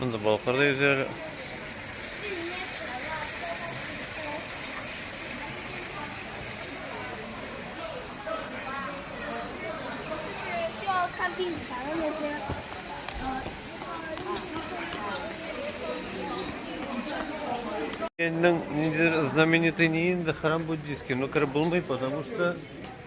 Монда балыклар да йөзә әле. знаменитый не инда храм буддийский, но ну, Крым был мой, потому что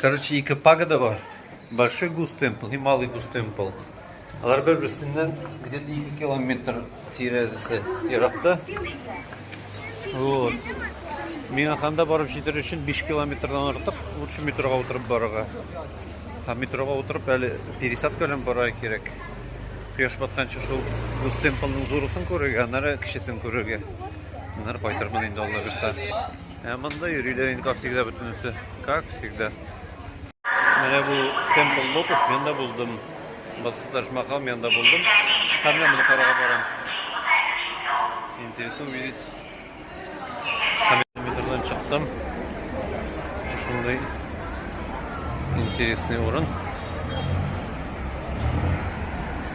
Короче, ике пагода бар. Большой гус темпл и малый гус темпл. Алар бер-берсеннән где-то 2 километр тирәзәсе еракта. Вот. Миңа ханда барып җитер өчен 5 километрдан артык лучше метрога утырып барырга. Һа метрога утырып әле пересадка белән барырга кирәк. Кояш батканчы шул гус темплның зурысын күрергә, аннары кечесен күрергә. Аннары кайтырмын инде алла бирса. Ә монда йөриләр инде, как всегда, бөтенесе. Как всегда. Менә бу Темпл Лотос, мен дә булдым. Басы Ташмахал, мен дә булдым. Һәм мен моны карага барам. Интересно увидеть. Һәм метрдан чыктым. Шундый интересный урын.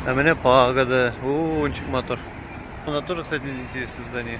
А меня пагода. О, он чик мотор. У нас тоже, кстати, интересное здание.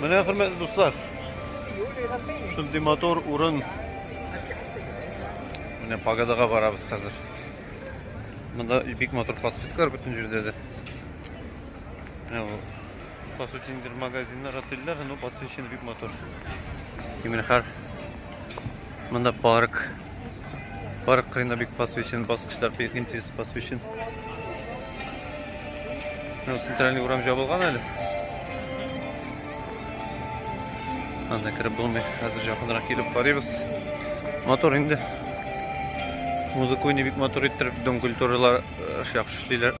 Менә хөрмәтле дуслар. Шундый мотор урын. Менә пагадага барабыз хәзер. Монда бик мотор пластиклар бөтен җирдә дә. Менә бу. По сути, магазиннар, отельләр, но посвящен бик мотор. Именно хар. Монда парк. Парк кырында бик посвящен, баскычлар бик интерес посвящен. Ну, центральный урам жабылган әле. Анда кереп булмый. Хәзер якынрак килеп карыйбыз. Мотор инде. Музыканы бик мотор иттереп, дом культуралар яхшы эшлиләр.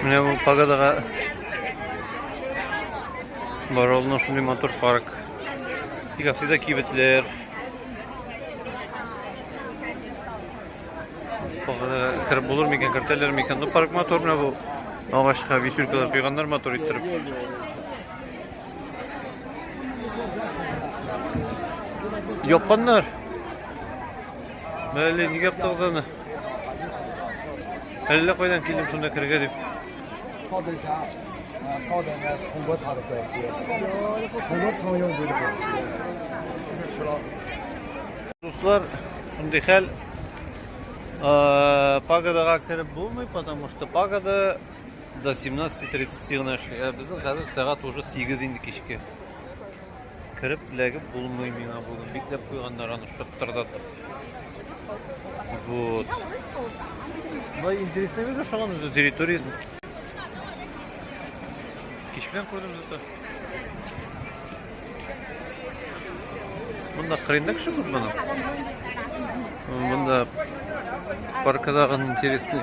Менә бу пагадага барылны шундый мотор парк. Тик асыда кибетләр. Пагадага кереп булыр микән, кертәләр микән? Ну парк мотор менә бу. Агачка висюлькалар куйганнар мотор иттереп. Япканнар. Мәле, нигә яптыгыз аны? Әллә кайдан килдем шунда керергә дип. Дуслар, шундый хәл. Пагадага кереп булмый, потому что пагада до 17.30 гына эшли. Ә безнең хәзер сәгать уже 8 инде кичке. Кереп эләгеп булмый миңа бүген. Бикләп куйганнар аны шыттырдатып. Вот. Мына интересный видео шуңан үзе территория. Кич белән күрдем зато. Монда кырында кеше күп моның. Монда паркадагы интересный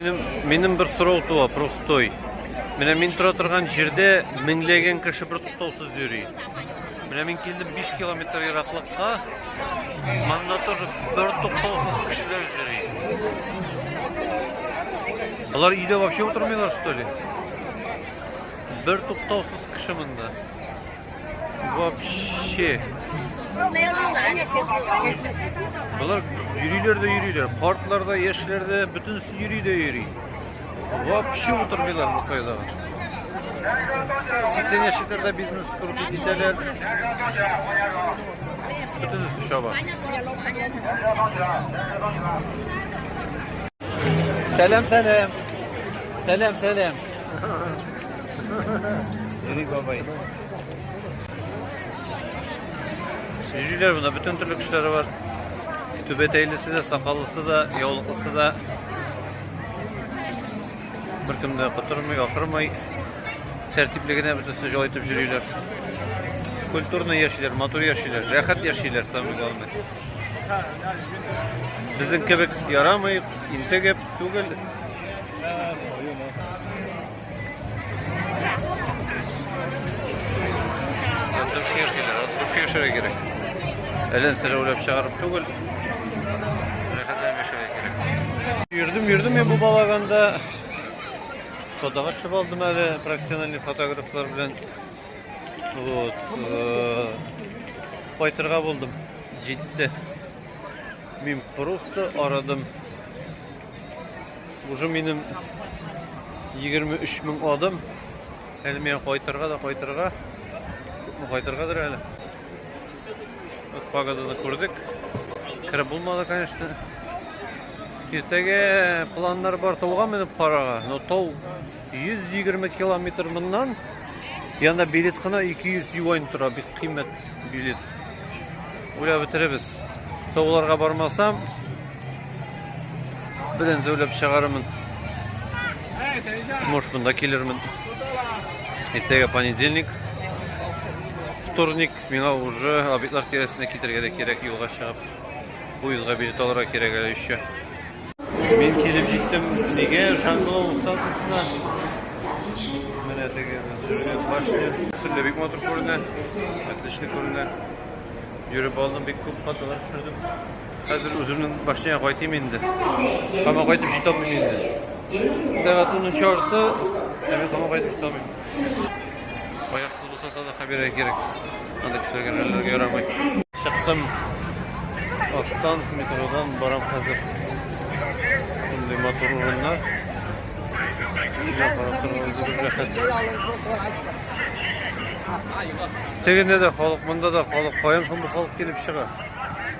Минем, минем бер сорау туа, простой. Менә мин тора торган җирдә меңләгән кеше бер туктаусыз йөри. Менә мин килдем 5 километр ераклыкка. Монда тоже бер туктаусыз кешеләр йөри. Алар өйдә вообще утырмыйлар, что ли? Бер туктаусыз кеше монда. Вообще. Болар йөриләр дә йөриләр. Картлар да, яшьләр дә, бөтенесе йөри дә йөри. Вообще утырмыйлар бу кайда. 80 яшьләрдә бизнес корып итәләр. Бөтенесе чаба. Сәлам, сәлам. Сәлам, сәлам. Eri бабай. Җөйләр бында бөтен төрле кешеләре бар. Түбәтәйлесе дә, сакаллысы да, яулыклысы да. Беркем дә котырмый, ахырмый. Тәртипле генә бөтенесе җай итеп җөйләр. Культурно яшиләр, матур яшиләр, рәхәт яшиләр самый главный. Безнең кебек ярамый, интегеп түгел. Дөрес яшиләр, дөрес яшәргә кирәк. Әлен сәләүләп чыгарып түгел. Рәхәтләнеп яшәргә кирәк. Йөрдем, йөрдем я бу балаганда. Фотога төшеп алдым әле профессиональный фотографлар белән. Вот. Кайтырга э, булдым. Җитте. Мин просто арадым. Уже минем 23 мең адым. Әле миңа кайтырга да кайтырга. Күпме кайтыргадыр әле. Вот погоданы күрдек. Кереп булмады, конечно. Иртәгә планнар бар тауга менеп карага, но тау 120 километр моннан, янда билет кына 200 юань тора, бик кыйммәт билет. Уйлап бетеребез. Тауларга бармасам, белән зәүләп чыгарымын. Может, монда килермен. Иртәгә понедельник. Вторник миңа уже объектлар тирәсенә китергә дә кирәк юлга чыгып. Поездга билет алырга кирәк әле еще. Мин килеп җиттем, нигә Жан-Кло станциясенә? Менә теге Зөрлет башня. Төрле бик матур күренә. Отлично күренә. Йөреп алдым, бик күп фотолар төшердем. Хәзер үземнең башняга кайтыйм инде. Кама кайтып җитә алмыйм инде. Сәгать 10 чарты, ә мин кама кайтып җитә алмыйм. Булсаса да хәбирә кирәк. Анда кешеләргә хәлләргә ярамый. Чыктым. Астан метродан барам хәзер. Шундый матур урыннар. Кешегә карап торганда бик рәхәт. Тегендә дә халык, монда да халык. Каян шундый халык килеп чыга?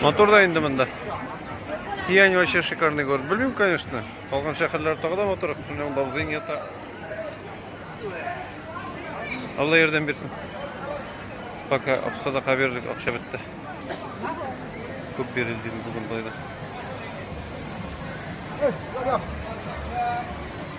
Мотор да инде монда. Сиянь вообще шикарный город. Белмим, конечно. Калган шәһәрләр тагы да матур. Менә монда абзыйң ята. Алла ярдәм бирсен. Пока аксада каберлек акча бетте. Күп бирелде бүген байлар.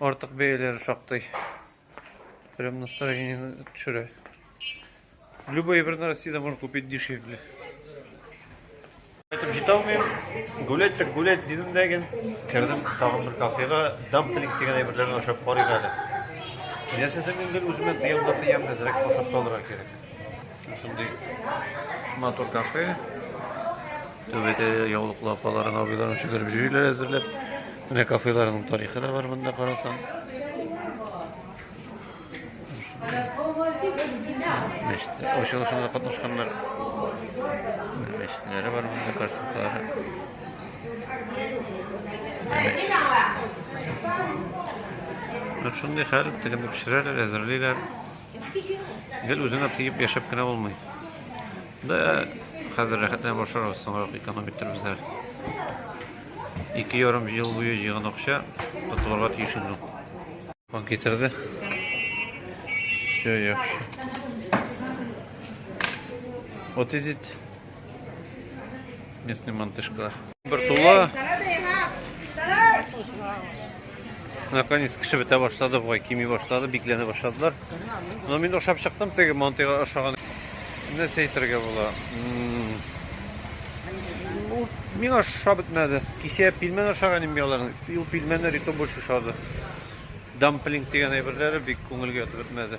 Артык бәяләре шактый. Прям настроение төшерә. Любой бер Россияда можно купить дешевле. Айтып җитә алмыйм. Гулять так гулять дидем дә ген. Кердем тагын бер кафега, дамплинг дигән әйберләрне ашап карыйк әле. Ясәсәң инде үземә тыям да тыям әзрәк ашап та алырга кирәк. Шундый матур кафе. Түбәдә яулыклы апалар, абыйлар шөгереп җөйләр әзерләп. Менә кафеларның тарихы да бар монда карасаң. Мәчетләр, ачылышында катнашканнар. Мәчетләре бар монда картинкалары. Шундый хәл, тегенеп пешерәләр, әзерлиләр. Гел үзеңә тиеп яшәп кенә булмый. Да, хәзер рәхәтләнеп ашарбыз, соңрак эконом иттербез әле. Ике ярым ел буе җыйган акча тотылырга тиеш инде. Он китерде. Все яхшы. What is it? Местный мантышка. Бер тула. Наконец кеше бетә башлады, бугай кими башлады, бикләнә башладылар. Но мин ашап чыктым, теге мантыйга ашаган. Нәрсә әйтергә була? Миңа аша бетмәде. Кичә пилмән ашаган инде аларның. Ул пилмәннәр итә больше шады. Дамплинг дигән әйберләре бик күңелгә ятып бетмәде.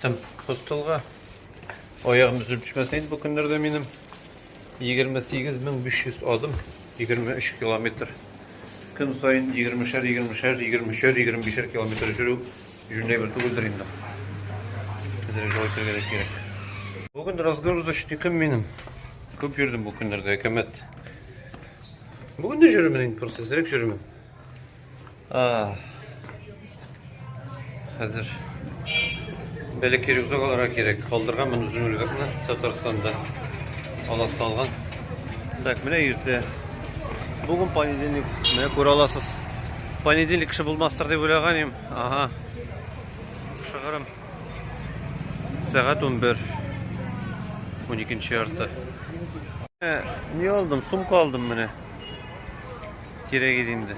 Тым хостелга. Аягым үзем төшмәсен инде бу көннәрдә минем. 28500 адым, 23 километр. Көн саен 20-шәр, 20-шәр, 23-шәр, 25-шәр километр жүрү җүнләй бер түгелдер инде. Әзрәк җавап итәргә дә кирәк. Бүген разгрузочный көн минем. Күп йөрдем бу көннәрдә, әкәмәт. Бүген дә йөрермен инде, просто әзрәк йөрермен. Хәзер бәләкәй рюкзак алырга кирәк. Калдырган мен үзем рюкзакны Татарстанда. Алас калган. Так, менә иртә. Бүген понедельник. Менә күрә аласыз. Понедельник кеше булмастыр дип уйлаган идем. Ага. Шыгырым. Сәгать 11. 12 ярты. Э, не алдым, сумка алдым менә. кирәк иде инде.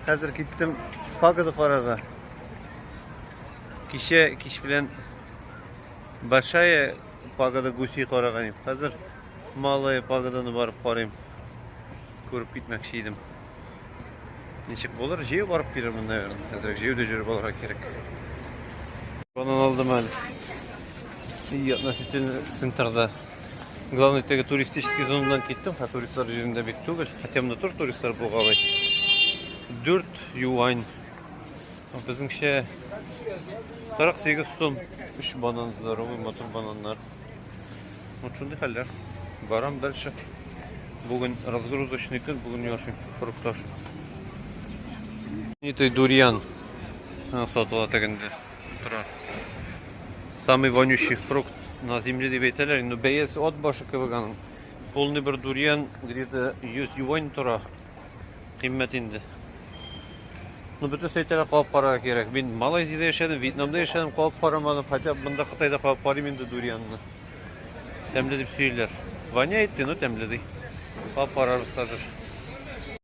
Хәзер киттем погода карарга. Кичә кич белән большая погода гуси караган идем. Хәзер малая погоданы барып карыйм. Күреп китмәкче идем. Ничек булыр? Җәю барып килермен, наверное. Хәзер җәюдә җөреп алырга кирәк. Банан алдым әле. И относительно центрда. Главный теге туристический зонадан киттем, ха туристлар җирендә бик түгел. Хотя монда тоже туристлар булгалый. 4 юань. Безнеңчә 48 сум 3 банан здоровый, матур бананнар. Вот шундый хәлләр. Барам дальше. Бүген разгрузочный көн, бүген яшим фруктаж. Итый дурьян сатыла тегендә. утыра. Самый вонючий фрукт на земле дип әйтәләр. Инде бәясе от башы кебек аның. Полный бер дурьян где-то 100 юань тора. Кыйммәт инде. Ну, бөтен сәйтәләр кабып карарга кирәк. Мин Малайзиядә яшәдем, Вьетнамда яшәдем, кабып карамадым. Хотя бы монда Кытайда кабып карыйм инде дурьянны. Тәмле дип сөйлиләр. Воняет, ну тәмле ди. Кабып карарбыз хәзер.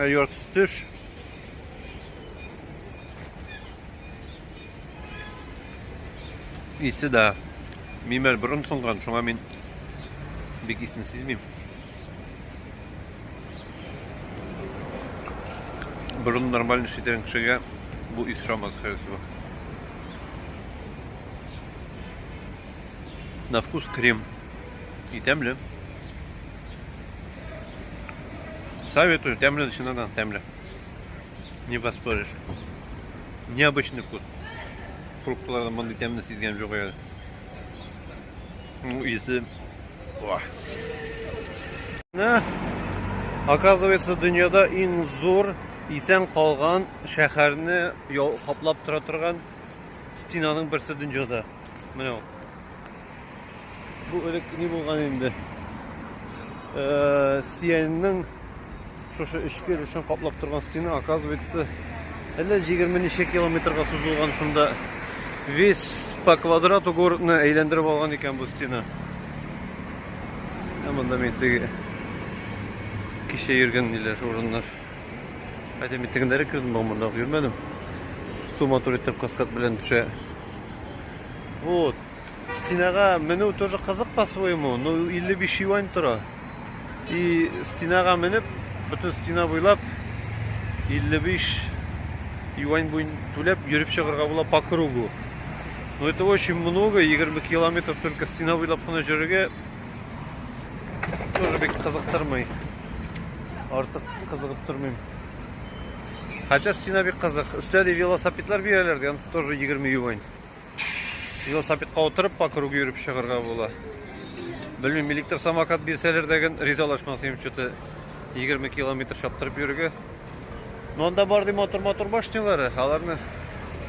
Ә ярты төш. Исе дә мимәр борын сыңган, шуңа мин бик исне сизмим. Борын нормаль эш итән кешегә бу ис шамас хәзер. На вкус крем. И темле. Советую, тәмле чыннан тәмле. Не воспоришь. Необычный вкус. Фруктлардан мондый тәмне сизгән юк әле. Ну, исе. Ох. Оказывается, дөньяда иң зур исән калган шәһәрне каплап тора торган стенаның берсе дөньяда. Менә ул. Бу элек ни булган инде? Э, Сияньнең шушы эчке өлешен каплап торган стена, оказывается, әллә 20 ничә километрга сузылган шунда весь по квадрату городны әйләндереп алган икән бу стена. Ә монда мин теге кичә йөргән ниләр урыннар. Хәтта мин тегендәре кердем, монда йөрмәдем. Суматур итеп каскад белән төшә. Вот. Стенага менү тоже кызык по своему, но 55 юань тора. И стенага менеп, бөтен стена буйлап 55 юань буен түләп йөреп чыгарга була по кругу. Но это очень много, 20 километр только стена буйлап кына җөрергә тоже бик кызыктырмый. Артык кызыгып тормыйм. Хотя стена бик кызык. Өстә де велосипедлар бирәләр, янсы тоже 20 юань. Велосипедка утырып по кругу йөреп чыгарга була. Белмим, электр самокат бирсәләр дә гын ризалашмас идем, что-то 20 километр чаптырып йөрергә. Но анда бар ди мотор-мотор башнялары, аларны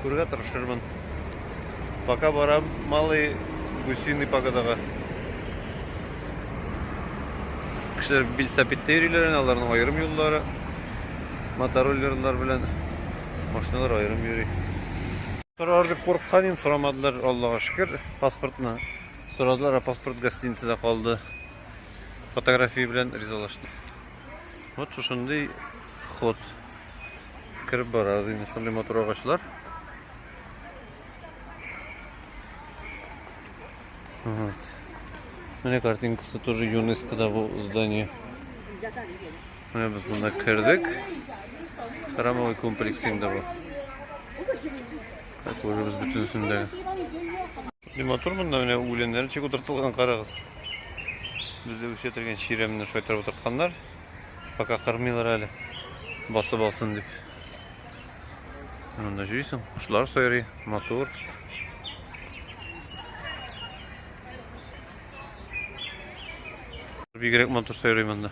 күрергә тырышырмын. Пока барам малый гусиный погодага. Кешеләр велосипедта йөриләр, аларның аерым юллары. Мотороллерлар белән машиналар аерым йөри. Сорар дип курыккан идем, сорамадылар, Аллага шөкер. Паспортны сорадылар, а паспорт гостиницада калды. Фотография белән ризалаштым. Вот шушындый ход. Кереп барабыз инде шундый матур агачлар. Вот. Мне картинка тоже ЮНЕСКО да здание. Менә без монда кердек. Храмовый комплекс инде бу. Так, уже без бөтенесен дә. Ни матур монда менә үләннәр ничек утыртылган карагыз. Бездә үсетелгән чирәмне шайтырып утыртканнар. Пока кырмыйлар әле. Басып алсын дип. Монда җыйсың, кошлар сайрый, матур. Бигрәк матур сайрый монда.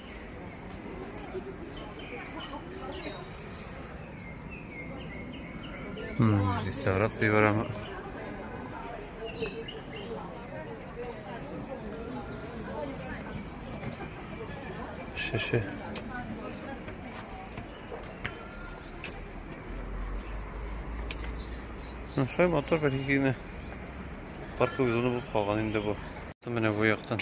Реставрация барамы? Шеше. Ну, шай мотор бер икене парковый зона булып калган инде бу. Менә бу яктан.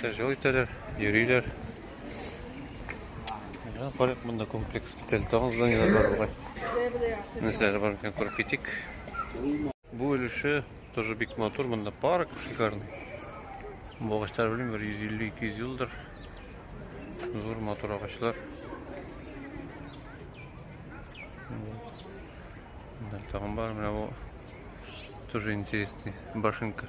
Кешеләр җол итәләр, йөриләр. Менә карыйк монда комплекс битәл тагын зданиеләр бар бугай. Нәрсәләр бар икән күреп китик. Бу өлеше тоже бик матур, монда парк шикарный. Бу агачлар белмим, бер 150-200 елдыр. Зур матур агачлар. Тагын бар, менә бу тоже интересный башенка.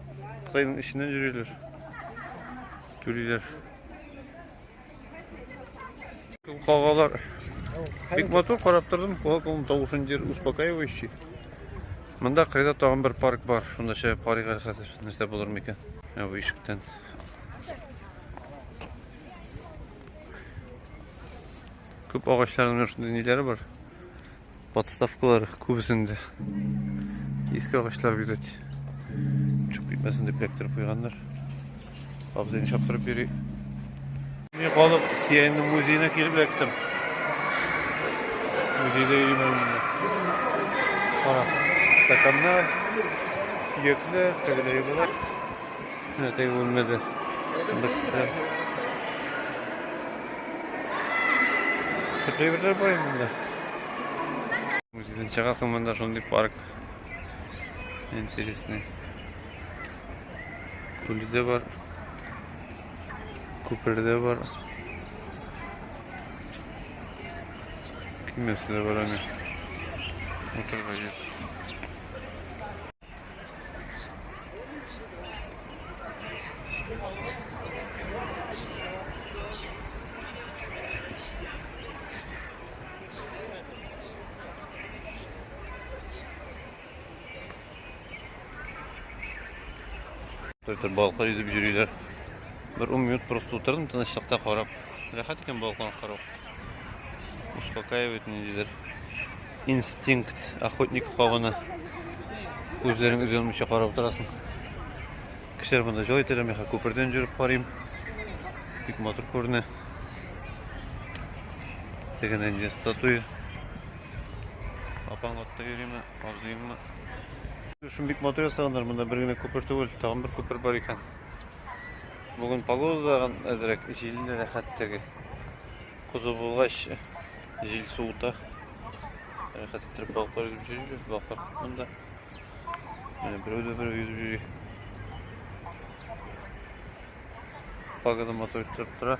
Кытайның эченнән йөриләр. Түлиләр. Кагалар. Бик матур карап тордым. Колакның тавышын дер успокаивающий. Монда кырыйда тагын бер парк бар. Шунда чыгып карыйк әле хәзер. Нәрсә булыр микән? Ә бу ишектән. Күп агачларның шундый ниләре бар. Подставкалар күбесендә иске агачлар бирәт. Чук китмәсен дип эләктереп куйганнар. Абзыйны чаптырып бирик. Мин калып Сиянның музеена килеп эләктем. Музейда йөрим инде. Кара, стаканнар, сөякләр, тегеләй булар. Әтәй үлмәде. Бетсә. Төпле берләр бар инде. Үзен чыгасың монда шундый парк. Интересный. Күле дә бар. Күпер дә бар. Кимәсе дә бар аны. Утырга җир. Төр-төр балыкла йөзеп йөриләр. Бер 10 минут просто утырдым тынычлыкта карап. Рәхәт икән балыкларны карау. Успокаивает ниндидер. Инстинкт охотника кабыны. Үзләрең үзе алмыйча карап утырасың. Кешеләр монда җылы итәләр, мин хәзер күпердән җөреп карыйм. Бик матур күренә. Тегенә инде статуя. Апаң атта йөриме, абзыеңмы? Шуны бик матур ясаганнар, монда бер генә күпер түгел, тагын бер күпер бар икән. Бүген погода да әзрәк, җилле рәхәт теге. Кузу булгач, Җил суыта. Рәхәт иттереп балыклар йөзеп җөрибез, балыклар күп монда. Менә берәү дә берәү йөзеп йөри. Пагода матур иттереп тора.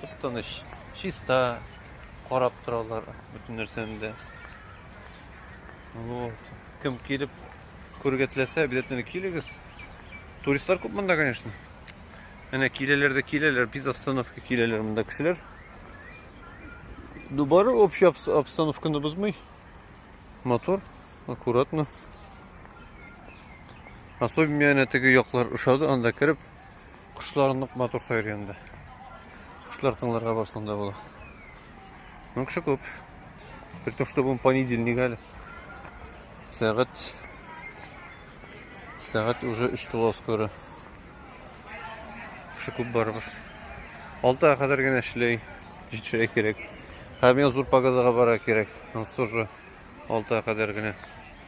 Тып-тыныч, чиста, карап торалар бөтен нәрсәне дә. Вот. Кем килеп күрергә теләсә, обязательно килегез. Туристлар күп монда, конечно. Әнә киләләр дә киләләр, без остановка киләләр монда кешеләр. Дубары общий обстановканы бозмый. Мотор аккуратно. Особенно әнә теге яклар ошады, анда кереп Кошлар нык матур сайрый инде. Кошлар тыңларга барсаң да була. Ну, кеше күп. При том, что бүгін понедельник әле. Сәгать Сәгать уже 3 тула скоро. Кеше күп барыбыз. Алта кадәр генә эшләй, җитешә кирәк. Һәм я зур погодага бара кирәк. Ансы тоже алта кадәр генә.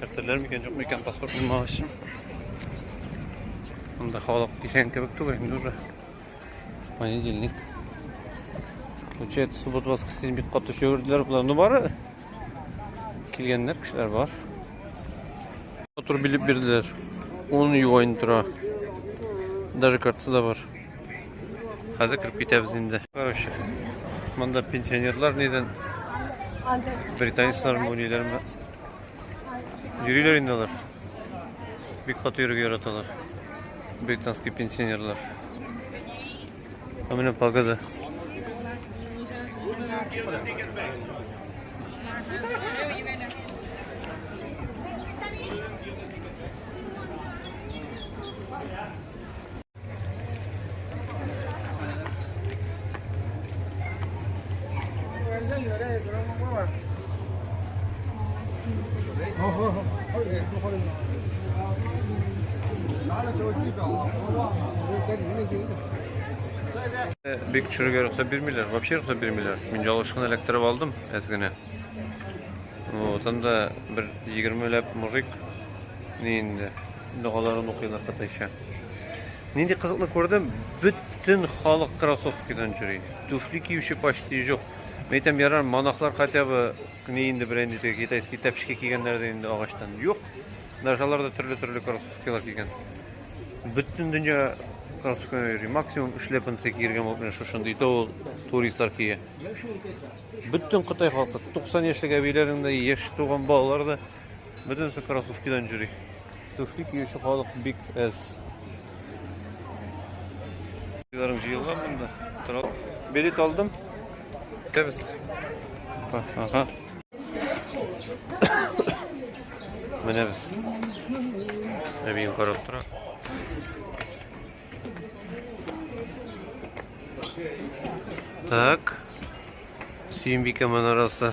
Кертерләр микән, юк микән паспорт булмагач. Монда халык дигән кебек түгел инде уже. Понедельник. Получается, суббот воскресенье бик каты йөрделәр болар. Ну бары килгәннәр кешеләр бар. Фатур билеп бирделәр. 10 юань тора. Даже картасы да бар. Хәзер кереп китәбез инде. Короче, монда пенсионерлар нидән британецлар мөниләрме? Йөриләр инде алар. Бик каты йөрергә яраталар. Британский пенсионерлар. А менә пагада. Бик чүрге рөхсәт бирмиләр. Вообще рөхсәт бирмиләр. Мин ялышкын эләктереп алдым әз генә. Вот, анда бер 20 ләп мужик ни инде догаларын укыйлар кытайча. Нинди кызыклы күрдем, бөтен халык кроссовкидан йөри. Түфли киюче почти юк. Мәйтәм ярар, монахлар хотя бы ни инде белән инде теге китайский тәпчки кигәннәр дә инде агачтан. Юк. Даже алар да төрле-төрле кроссовкилар кигән. Бөтен дөнья кроссовкидан йөри. Максимум шлепанцы кигергән булып менә шушындый то туристлар кия. Бөтен Кытай халкы 90 яшьлек әбиләрен дә, яшь туган балалар да Бөтенесе кроссовкидан җөри. Түфли киюче халык бик әз. Биларым җыелган монда. Тора. Билет алдым. Кебез. Ага. Менә без. Әбием карап тора. Так. Сөембикә манарасы.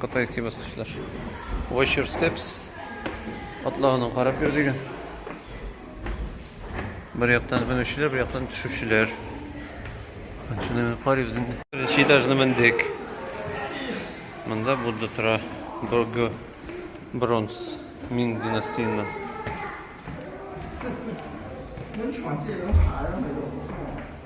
Кытайский баскычлар. Watch your steps. Атлауны карап йөр дигән. Бер яктан менүчеләр, бер яктан төшүчеләр. Шуны мин карыйбыз инде. Беренче этажны мендек. Монда Будда тора. Борго бронз Мин династиясеннән.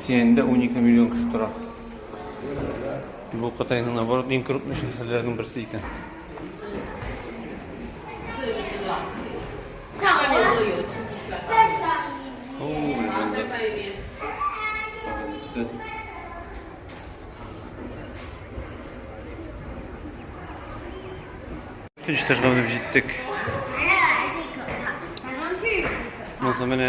Сиәндә унике миллион кеше тора. Бу Кытайның наоборот иң крупный шәһәрләренең берсе икән. Өченче этажга менеп җиттек. Муза менә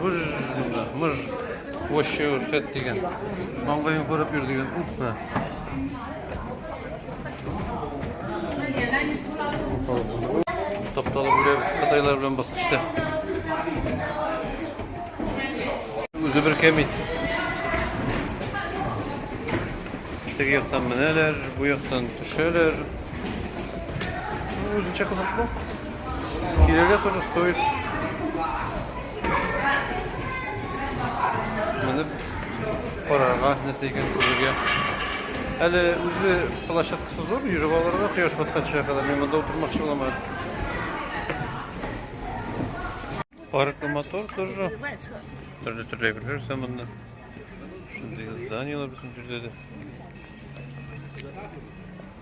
Гүж монда, мыж. Вообще үрсәт дигән. Маңгайын күреп йөр дигән. Уппа. Тапталып үләбез Кытайлар белән баскычта. Үзе бер кәмит. Теге яктан менәләр, бу яктан төшәләр. Үзенчә кызыклы. Килергә тоже стоит. Менеп карарга, нәрсә икән күрергә. Әле үзе площадкасы зур, йөреп алырга кояш батканча кадәр мин монда утырмакчы буламын. Парк мотор тоже. Төрле төрле әйберләр исә монда. Шундый зданиелар безнең җирдә дә.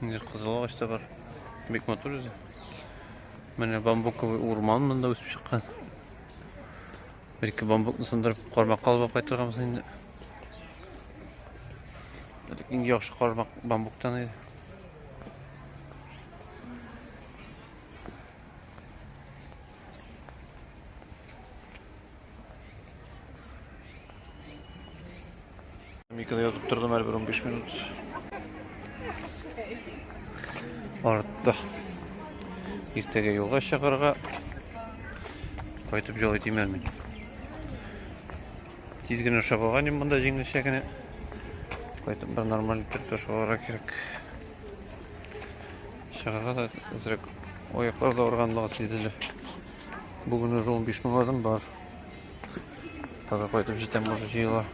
Инде кызыл агач та бар. Бик матур үзе. Менә бамбуковый урман монда үсеп чыккан. Бәлки бамбукны сындырып кармак калып кайтырганбыз инде. Иң яхшы кармак бамбуктан иде. Миканы ятып тордым әле бер 15 минут. Артта. Иртәгә юлга чыгарга. Кайтып җолый тимәр мин. Тиз генә шабаган ем монда җиңелчә генә. Кайтып бер нормаль итеп ташаларга кирәк. Чыгарга да әзрәк аяклар да арганлыгы сизелә. Бүген уже 15 мең адым бар. Тагы кайтып җитәм, может җыела.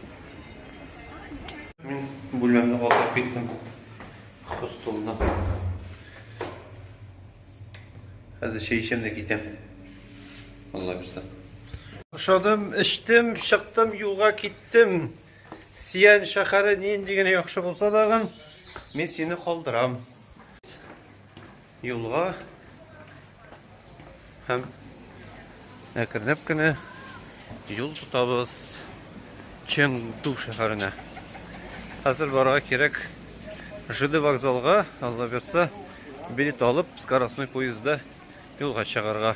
Мин бүлмәмне калдырып киттем. Хостелда. Хәзер чәй эчәм дә китәм. Алла бирсә. Ашадым, эчтем, чыктым, юлга киттем. Сиян шәһәре нинди генә яхшы булса дагын, мин сине калдырам. Юлга һәм әкренләп кенә юл тотабыз Чэнду шәһәренә. Хәзер барырга кирәк ЖД вокзалга, алла берса, билет алып, скоростной поездда юлга чыгарга.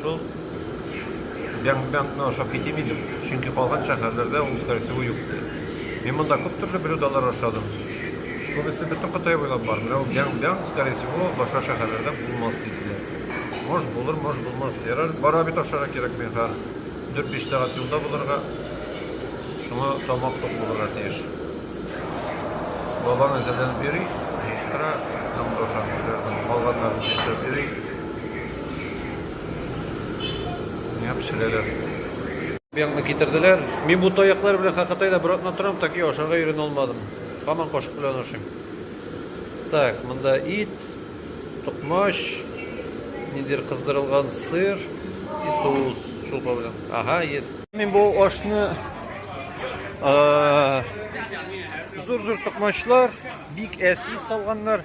Шул Бянг-Бянгны ашап китим идем, чөнки калган шәһәрләрдә ул скоросевой юк иде. Мин монда күп төрле блюдалар ашадым. Күбесе бөтен Кытай буйлап бар, менә ул Бянг-Бянг, скоросевой, башка шәһәрләрдә булмас диделәр. Может булыр, может булмас. Ярар, бара бит ашарга кирәк мин хәр. 4-5 сәгать юлда булырга, шуңа тамак тук булырга тиеш. Бабаң әзерләнеп йөри, җыештыра, һәм ашап кешеләрдән калганнарын җыештырып йөри. Менә пешерәләр. Быякны китерделәр. Мин бу таяклар белән хакатайда бер атна торам, так и ашарга өйрәнә алмадым. Хаман кашык белән ашыйм. Так, монда ит, токмач, ниндидер кыздырылган сыр и соус шулпа белән. Ага, есть. Мин бу ашны зур-зур токмачлар, бик әс ит салганнар.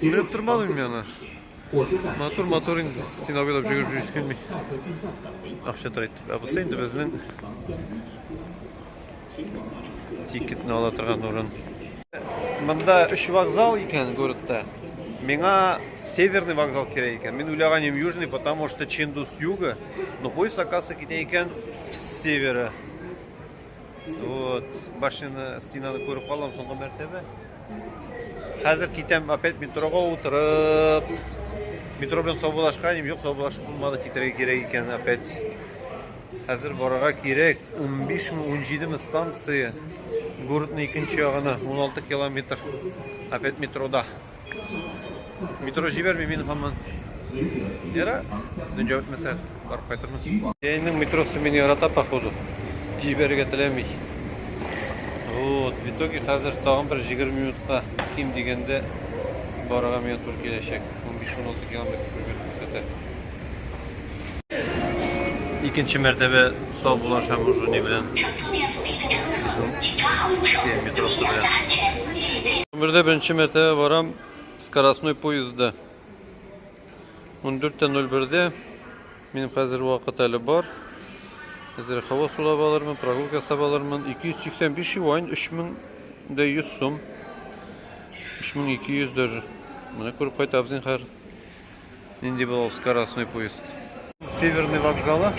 Күреп тормадым мин аны. Матур, матур инде. Стена буйлап жүгереп жүрүсе килми. Акча тора итеп. Ә бусы инде безнең тикетны ала торган урын. Монда өч вокзал икән городта. Миңа северный вокзал кирәк икән. Мин уйлаган идем южный, потому что Чиндус юга, но поезд оказывается китә икән с севера. Вот, башыны, стенаны күреп калам соңгы мәртәбә. Хәзер китәм, опять метрога утырып. Метро белән саубулашкан, юк, саубулашып булмады, китерергә кирәк икән опять. Хәзер барырга кирәк. 15 ми, 17 ми станция. Городның икенче ягына 16 километр. Опять метрода. Метро җибәрми мин хаман. Яра, дөнҗә үтмәсә, барып кайтырмыз. Янның метросы мин ярата походу. Җибәрергә теләми. Вот, в итоге хәзер тагын бер 20 минутка ким дигәндә барырга миңа туры киләчәк. 15-16 километр күрсәтә. Икенче мәртәбә сау булашам уже не белән. Россия метросы белән. Гомердә беренче мәртәбә барам скоростной поездда. 14.01-дә минем хәзер вакыт әле бар. Хәзер хава сулап алырмын, прогулка ясап алырмын. 285 юань, 3100 сум. 3200 даже. Менә күреп кайтабыз инде хәзер. Нинди була скоростной поезд? Северный вокзалы.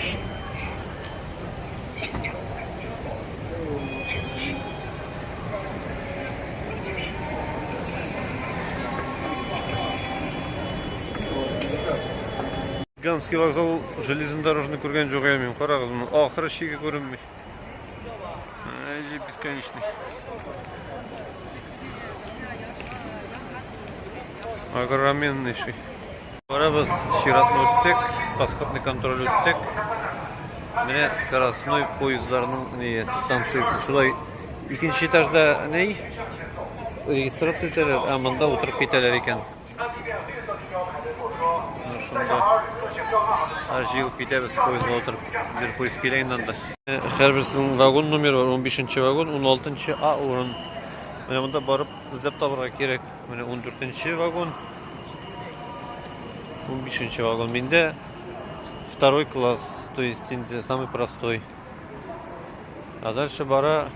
Ганский вокзал железнодорожный күргән җугыямыйм. Карагыз моны. Ахыры чиге күренми. Или бесконечный. Огроменнейший. Барабыз чиратны үттек, паспортный контроль үттек. Менә скоростной поездларның не станциясе. Шулай икенче этажда ней регистрация итәләр, ә монда утырып китәләр икән. Менә шунда һәр җыел китәбез поездга утырып. Бер поезд килә инде анда. Һәрберсенең вагон номер бар. 15 нче вагон, 16 нчы А урын. Менә монда барып эзләп табарга кирәк. Менә 14 нче вагон. 15 нче вагон. Миндә второй класс, то есть инде самый простой. А дальше бара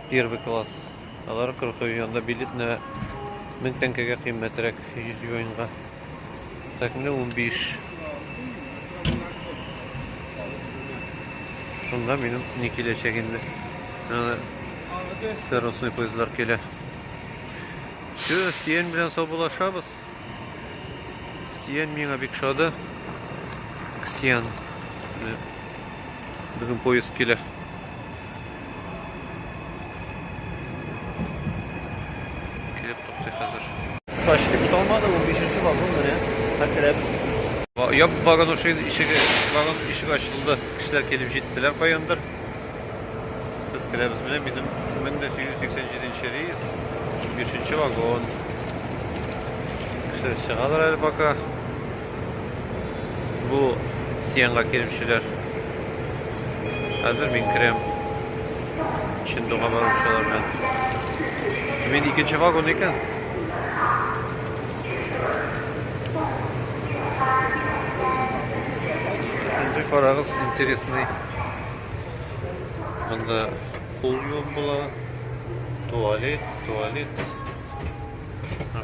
первый класс. Алар крутой, анда билет на 1000 тәңкәгә кыйммәтрәк 100 юаньга. Так, менә 15. Шунда минем не киләчәк инде. Скоростный поездлар килә. Все, сиен белән саубулашабыз. Ксиан миңа бик шады. Ксиан. Безнең поезд килә. Килеп туктый хәзер. Ташкент киталмады, 15-нче вагон менә. Хәзер керәбез. Ябып барган ошин ишеге, вагон ишеге ачылды. Кешеләр килеп җиттеләр каяндыр. Без керәбез менә минем 1887 рейс, 5 вагон. Кешеләр чыгалар әле пока. Бу Сиянга керүчеләр. Хәзер мин керәм. Чындуга баручылар белән. Мин икенче вагон икән. Шундый карагыз, интересный. Монда кул юып була, туалет, туалет.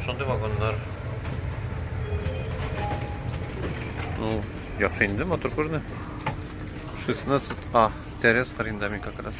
Шундый вагоннар. Ну, яхшы инде, мотор күренә. 16А, тәрәз кырында мин как раз.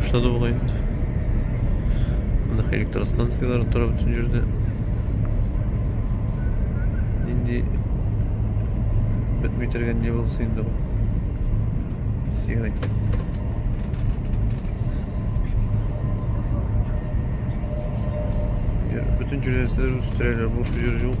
башлады бугай инде мына электростанциялар тора бөтен җирдә нинди бетми торган не булса инде бу сигай бөтен җирдә нәрсәләр үстерәләр буш җир юк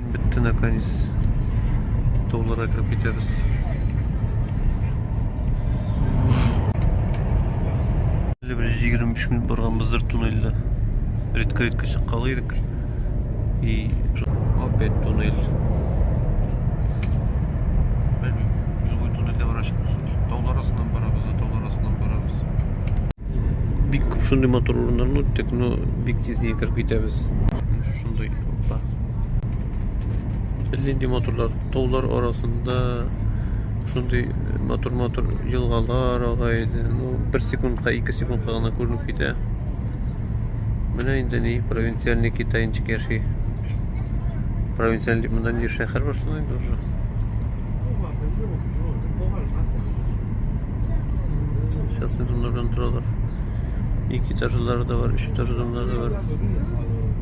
Бетте наконец. Тауларга кереп китәбез. Әле бер 25 минут барганбыздыр туннельдә. Редко редко чыккан идек. И опять туннель. Белмим, җылы туннельдә бара чыкмыш. Таулар астыннан барабыз, таулар астыннан барабыз. Бик күп шундый матур урыннарны үттек, но бик тиз китәбез. Шундый Нинди матурлар, таулар арасында шундый матур-матур елгалар ага иде. Ну, бер секундка, ике секундка гына күренеп китә. Менә инде ни, провинциальный китайнчик яши. Провинциальный дип монда ни шәһәр бар шунда инде уже. Сейчас инде монда белән торалар. Ике этажлары да бар, өч этажлары да бар.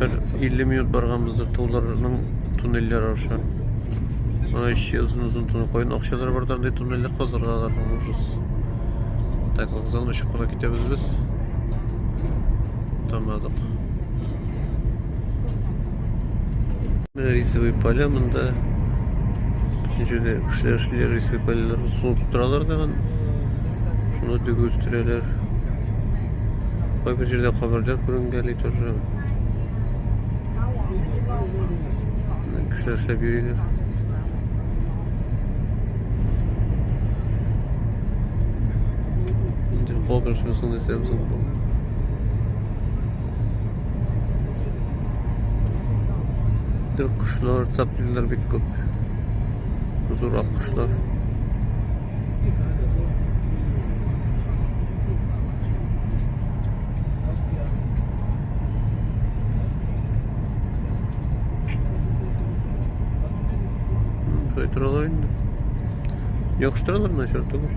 Бер 50 минут барганбыздыр туларның туннельләр аша. Ана еще озын озын туннель кайын акчалар бар таңдай туннельле казырга аларның ужас. Так, вокзалны очып кына китәбез без. Тамадык. Менә рисовый поля монда. Бөтен җирдә кешеләр эшлиләр, рисовый полялар су тутыралар тагын. Шуны тегү үстерәләр. Кайбер җирдә каберләр күренгәли тоже. Кешеләр эшләп йөриләр. Инде калган шусын дисәм соң. Аккошлар, цаплилар бик күп. Зур аккошлар. Шулай торалар инде. Яхшы торалар начар түгел.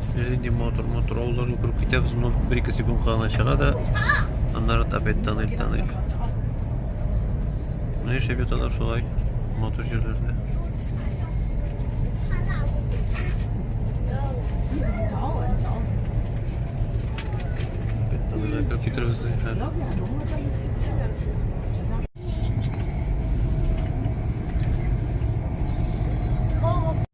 Әле инде мотор, мотор авылларга күреп китәбез. Моннан бер-ике секундка гына чыга да, аннары опять тоннель, тоннель. Ну, яшәп яталар шулай, матур җирләрдә. Китербез, хәл.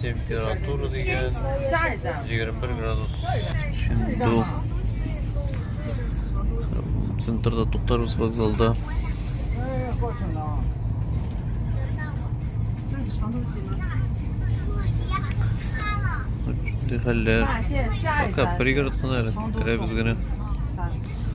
Температура дигән 21 градус. Шунда центрда туктарбыз вокзалда. Хәлләр. Пока пригород кына әле. Керәбез генә.